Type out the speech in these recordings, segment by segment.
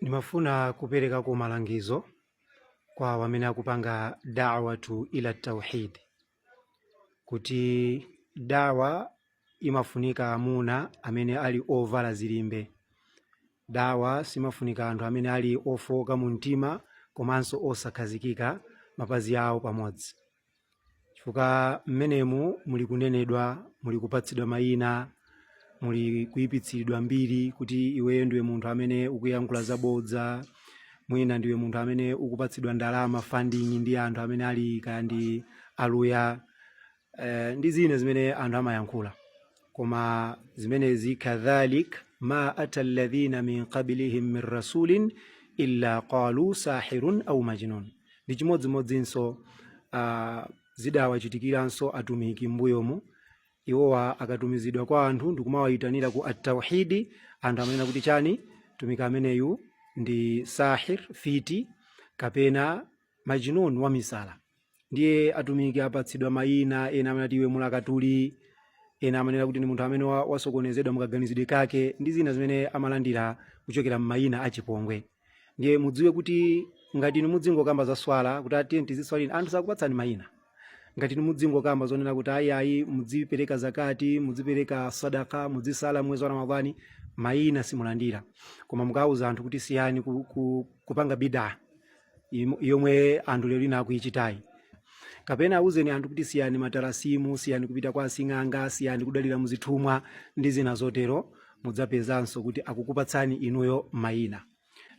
Ndimafuna kuperekako malangizo kwa awo amene akupanga da'watu ila tauhid kuti dawa imafunika amuna amene ali ovala zilimbe. Dawa simafunika anthu amene ali ofooka mu mtima komanso osakhazikika mapazi awo pamodzi. chifukwa mmenemu muli kunenedwa muli kupatsidwa mayina muli kuyipitsiridwa mbiri kuti iweyo ndiwe munthu amene ukuyankhula zabodza mwina ndiwe munthu amene ukupatsidwa ndalama funding ndi anthu amene ali kaya ndi aluya eh, ndi zina zimene anthu amayankhula koma zimenezi kadhalik ma ata alladhina min qablihim min rasulin illa qalu sahirun au majnun ndi chimodzimodzinso uh, zidawachitikiranso atumiki mbuyomu iwowa akatumizidwa kwa anthu ndikumawayitanira ku atauhidi anthu amanena kuti chani mtumiki ameneyu ndi sahir fiti kapena majnun wamisala ndiye atumiki apatsidwa mayina ena amati iwe mulakatuli ena amanena kuti ndi munthu amene wa- wasokonezedwa mukaganizidwe kake ndi zina zimene amalandira kuchokera m'mayina achipongwe ndiye mudziwe kuti ngati inu mudzingokamba za swala kuti ah tiye tiziswalini anthu sakupatsani mayina ngati inu mudzingokamba zonena kuti ayi ayi mudzipereka zakati mudzipereka sadaka mudzisala mwezi wa ramadhani mayina simulandira koma mukauza anthu kuti siyani ku, ku, kupanga bidaa im- yomwe anthu lero lino akuichitayi kapena auzeni anthu kuti siyani matalasimu siyani kupita kwa asing'anga siyani kudalira muzithumwa ndi zina zotero mudzapezanso kuti akukupatsani inuyo mayina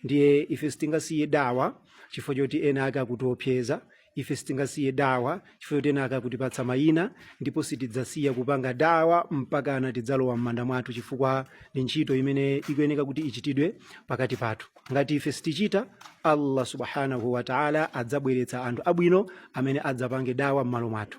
ndiye ife sitingasiye dawa chifukwa choti ena ake akutiopseza ife sitingasiye dawa chifukwa choti ena ake akutipatsa mayina ndipo sitidzasiya kupanga dawa mpakana tidzalowa m'manda mwathu chifukwa ndi ntchito imene ikuyeneka kuti ichitidwe pakati pathu ngati ife sitichita allah subhanahu wataala adzabweretsa anthu abwino amene adzapange dawa m'malo mwathu